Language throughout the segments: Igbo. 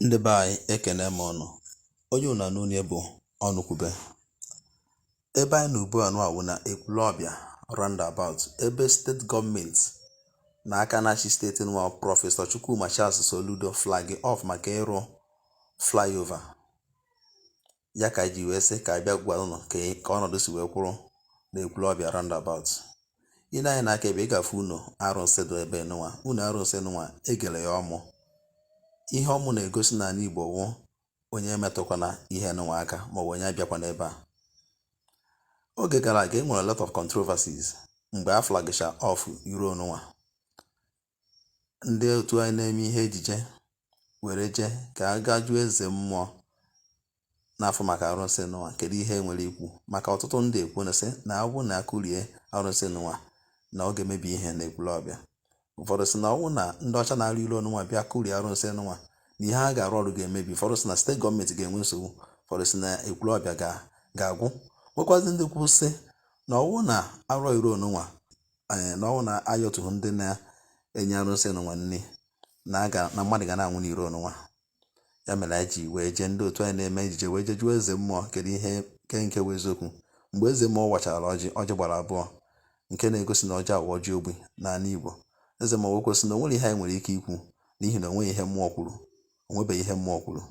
Ndị be anyị ekene m ụnụ. Onye unu na-anụ onu ya bụ Ọnụkwube. Ebe anyị nọ ugbu a nụnwa wụ na Ekwulọbịa roundabout ebe steeti gọọmenti na aka na-achị steeti nwa prọfesọ Chukwuma Charles Soludo flagi off maka ịrụ flyover. ya ka ji wee sị ka anyị bịa gwa ụnụ ka ka ọnọdụ si wee kwụrụ na Ekwulọbịa roundabout ị nee anya na aka ebe ị ga-afụ ụnọ arụsị dị ebe nụnwa ụnọ arụsị nụnwa e gere ya ọmụ ihe ọmụ na-egosi na ala igbo wụ onye emetụkwana ihe nụnwa aka maọbụ onye abịakwana ebe a oge gara aga e nwere lot of controversies mgbe a flagisha off iro nụnwa ndị otu anyị na-eme ihe ejije were jee ka a gaa jụọ eze mmụọ n'afa maka arụsị nụnwa kedu ihe o nwere ikwu maka ọtụtụ ndị ekwu na-asị na ọ bụrụ na a kụrie arụsị nụnwa na ọ ga-emebi ihe na Ekwulọbịa ụfọdụ sị na ọ bụrụ na ndị ọcha na-arụ iro nụnwa bịa kụrie arụsị nụnwa na ihe a ga-arụ ọrụ ga-emebi ụfọdụ sị na steeti gọọmenti ga-enwe nsogbu ụfọdụ sị na Ekwulọbịa ga-agwụ nwekwazị ndị kwu sị na ọ wụ na a rụọ iro nụnwa eh, na ọ wụ na a yọtaghị ndị na-enye arụsị nụnwa nri na mmadụ ga na-anwụ n'iro nụnwa ya mere anyị ji wee jee ndị otu anyị na-eme ejije wee jee jụọ eze mmụọ kedu ihe nke nke bụ eziokwu mgbe eze mmụọ wachara ọjị ọjị gbara abụọ nke na-egosi na ọjị a wụ ọjị ogbi n'ala Igbo eze mmụọ wee kwu sị na onwerọ ihe anyị nwere ike ikwu n'ihi na onweghị ihe mmụọ kwuru onwebeghị ihe mmụọ kwuru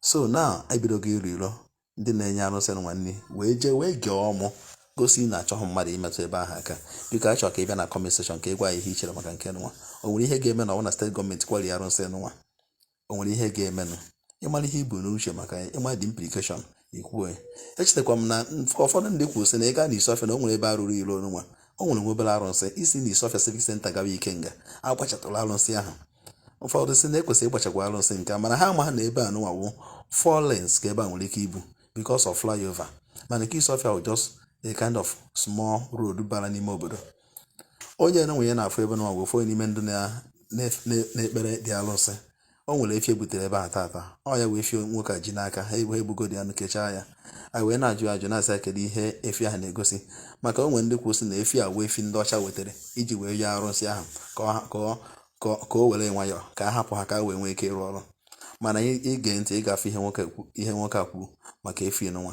so na e bidogo ịrụ iro ndị na-enye arụsị nụnwa nri wee jee wee gee ọmụ gosi na a chọghị mmadụ imetụ ebe ahụ aka biko achọrọ ka ị bịa na comment section ka ị gwa ihe i chere maka nke nwa o nwere ihe ga-eme na ọ na steeti gọọmenti kụrie arụsị nwa o nwere ihe ga-emenụ ị mara ihe i bu n'uche maka ya ị ma the implication ikwue echetakwa m na ụfọdụ ndị kwuru sị na ị gaa na Isuọfịa na o nwere ebe a rụrụ iro nwa o nwere nwa obere arụsị i si na Isuọfịa civic center gawa Ikenga a gbachatụrụ arụsị ahụ ụfọdụ sị na e kwesịrị ịgbachakwa arụsị nke a mana ha amaghị na ebe a nụnwa wụ four lanes ka ebe a nwere ike ịbụ because of flyover mana nke Isuọfịa wụ just a kind of small road bara n'ime obodo onye nụnwa anyị na-afụ ebe nụnwa wụ onye n'ime ndị na-ekpere the arụsị o nwere efi e butere ebe a tata ọ ya wụ efi nwoke a ji n'aka ha egbu ha egbugo the anụ kechaa ya anyị wee na-ajụ ajụ na-asị ya kedu ihe efi ahụ na-egosi maka o nwe ndị kwu sị na efi a wụ efi ndị ọcha wetara iji wee yọọ arụsị ahụ ka o were nwayọọ ka a hapụ ha ka ha wee nwee ike ịrụ ọrụ mana i gee ntị ị ga-afụ ihe nwoke a kwuru maka efi nụnwa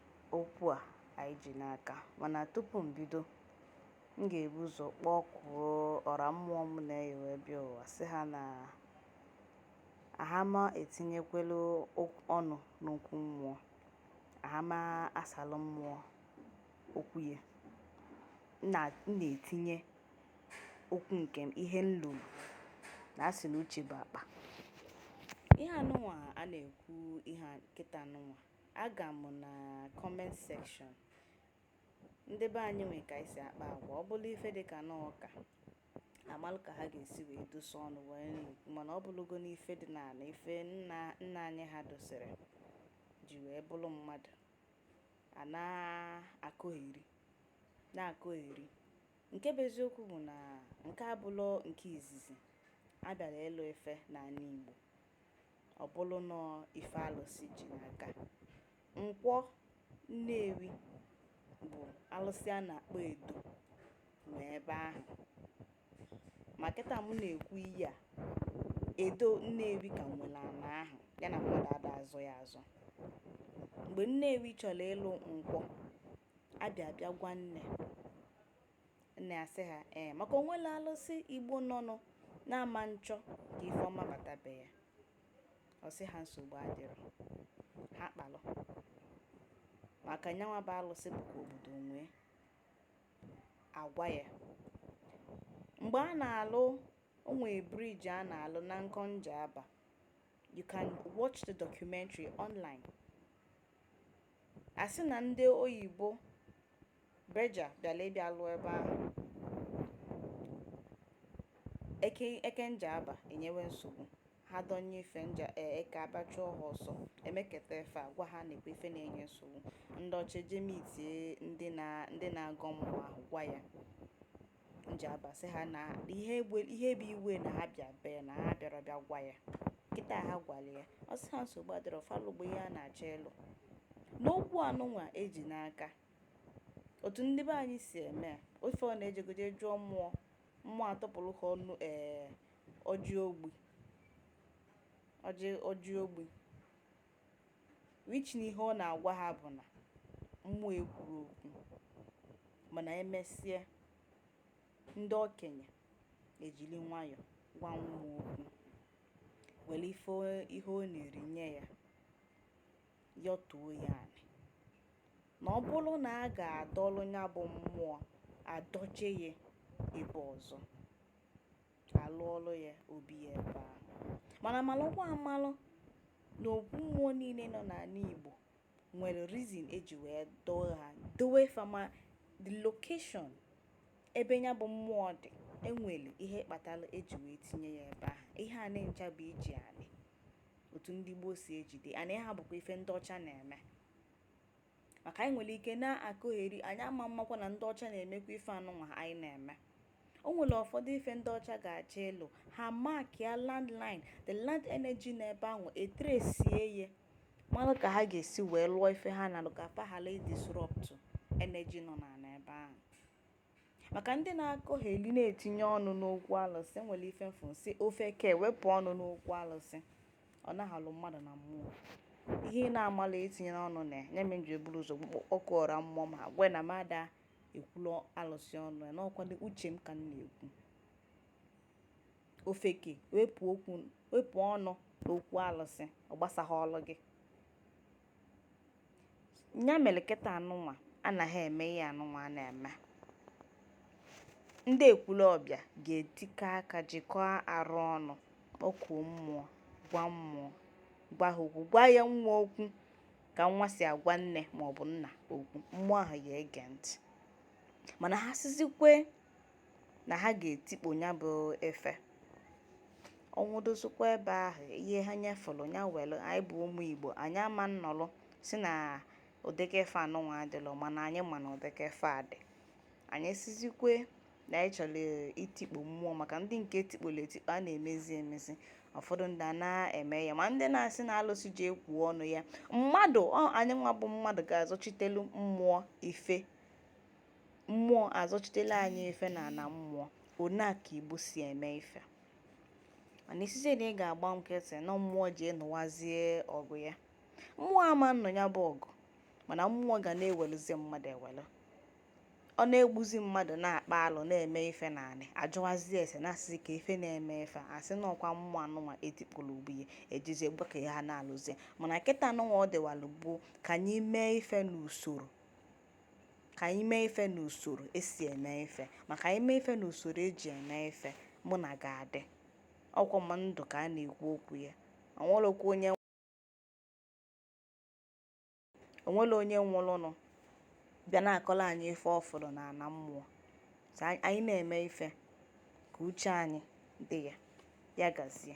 okwu a anyị ji n'aka mana tupu m bido m ga-ebu ụzọ kpọkuo ọra mmụọ m na-eyi wee bịa ụwa sị ha na ahama etinyekwelu okwu- ọnụ n'okwu mmụọ ahama asalụ mmụọ okwu ya M na- m na-etinye okwu nke m ihe m lụrụ na asị na uche bụ akpa ihe anụnwa a na-ekwu ihe a kịta anụnwa Aga m na comment section. Ndị be anyị nwe ka anyị si akpa agwa. Ọ bụrụ ife dị ka na ụka, amalụ ka ha ga-esi wee dosa ọnụ wee nri. Mana ọ bụrụgo na ife dị n'ala, ife nna nna anyị ha dosere ji wee bụrụ mmadụ. A na-akọgheri, na-akọgheri. Nke bụ eziokwu bụ na nke a abụlọ nke izizi a bịara ịlụ ife n'ana Igbo. ọ bụrụ na ife alụsị ji n'aka nkwọ nnewi bụ alụsị a na-akpọ edo nọ ebe ahụ ma kịta mụ na-ekwu ihe a edo nnewi ka nwere ana ahụ ya na mmadụ ada azọ ya azọ mgbe nnewi chọrọ ịlụ nkwọ abịa abịa gwa nne Nne asị ha, ee, maka o nwelọ alụsị Igbo nọnụ na-ama nchọ ka ife ọma bata be ya. Ọ sị ha nsogbu adịrọ. Ha kpalụ. Maka nyanwa bụ alụsị bụ ka obodo nwee. Agwa ya. Mgbe a na-alụ o nwe bridge a na-alụ na nkọ Njaba, you can watch the documentary online. Asị na ndị oyibo Berger bịara ịbịa lụọ ebe ahụ eke eke Njaba enyewe nsogbu ha dọnye ife, eke abịa chụọ ha ọsọ emeketa ife a gwa ha nekwe ife na-enye nsogbu ndị ọcha eje mitie ndị na ndị na-agọ mmụọ ahụ gwa ya Njaba sị ha na ihe egbe ihe bụ iwe na ha bịa bee na ha abịarọ bịa gwa ya kịta ha gwara ya ọ sị ha nsogbu adịrọ fa lụgbo ihe a na-achọ ịlụ n'okwu anụnwa eji n'aka otu ndị be anyị si eme ife ọ na e jego je jụọ mmụọ mmụọ atụpụrụ ha ọnụ ee ọjị ogbi ọjị ọjị ogbi which ihe ọ na-agwa ha bụ na mmụọ ekwurọ okwu mana emesịa ndị okenye ejiri nwayọ gwa mmụọ okwu were ife ihe ọ na-eri nye ya yọtuo ya anị na ọ bụrụ na a ga-adọlụ ya bụ mmụọ a dọje ya ebe ọzọ a lụọlụ ya obi ya ebe ahụ mana malụkwa amalụ na okwu mmụọ niile nọ n'ala Igbo nwere reason eji wee dọọ ha dowe fa ma the location ebe ya bụ mmụọ dị e nwere ihe kpatara eji wee tinye ya ebe ahụ ihe ana ncha bụ iji anị otu ndị gboo si ejide and ha bụkwa ife ndị ọcha na-eme maka anyị nwere ike na-akọgheri anyị ama mmakwa na ndị ọcha na-emekwa ife anụnwa anyị na-eme o nwere ụfọdụ ife ndị ọcha ga-achọ ịlụ ha markịa landline the land energy n'ebe ahụ e tracie ya mara ka ha ga-esi wee lụọ ife ha na-alụ ka fa ghara ịdisrupt energy nọ n'ala ebe ahụ maka ndị na-akọgheli na-etinye ọnụ n'okwu alụsị nwere ife m fụ sị ofeke wepụ ọnụ n'okwu alụsị ọ naghị mmadụ na mmụọ ihe ị na-amalọ etinyena ọnụ na ya nya m ji eburu ụzọ kpọkuo ọra mmụọ agwa na mmadụ ekwulu alụsị ọnụ ya n'ọkwado uche m ka m na-ekwu ofeke wepụ ọnụ n'okwu alụsị ọ gbasaghalụ gị ya mere kịta anụnwa anaghị eme ihe anụnwa a na-eme ndị Ekwulọbịa ga-etikọ aka jikọọ arụ ọnụ kpọkuo mmụọ gwa mmụọ gwa ha okwu gwa ya nwa okwu ka nwa si agwa nne maọbụ nna okwu mmụọ ahụ ya ege ntị mana ha sizikwe na ha ga-etikpo ya bụ ife ọnwụdozikwa ebe ahụ ihe ha nyefụrụ ya were anyị bụ ụmụ igbo anyị ama nnọrọ sị na ụdịka ife anụnwa adịlọ mana anyị ma na ụdịka ife a dị anyị sizikwe na anyị chọrọ itikpo mmụọ maka ndị nke etikporo etikpo a na-emezi emezi ụfọdụ ndị a na-eme ya ma ndị na-asị na alụsị ji ekwu ọnụ ya mmadụ anyị nwa bụ mmadụ ga-azọchitelu mmụọ ife mmụọ azọchitela anyị ife n'ana mmụọ one a ka igbo si eme ife mana ị sịzie na ị ga-agba nkịtị na mmụọ ji ịnụwazie ọgụ ya mmụọ ama nnụ ya bụ ọgụ mana mmụọ ga na-ewelụzi mmadụ ewelụ ọ na-egbuzi mmadụ na-akpa alụ na-eme ife na anyị ajụwazi ese na-asịzi ka ife na-eme ife a sị na ọkwa mmụọ anụnwa e tikporo ugbu ya ejizi egbe ka ya ha na-alụzi mana kịta anụnwa ọ dịwalụ bụ ka anyị mee ife n'usoro ka anyị mee ife n'usoro e si eme ife maka anyị mee ife n'usoro e ji eme ife mụ na gị adị ọkwọ m ndụ ka a na-ekwu okwu ya o nwelọkwa onye o nwere onye nwụrụnụ bịa na-akọrọ anyị ife ọ fụrụ n'ana mmụọ so anyị anyị na-eme ife ka uche anyị dị ya ya gazie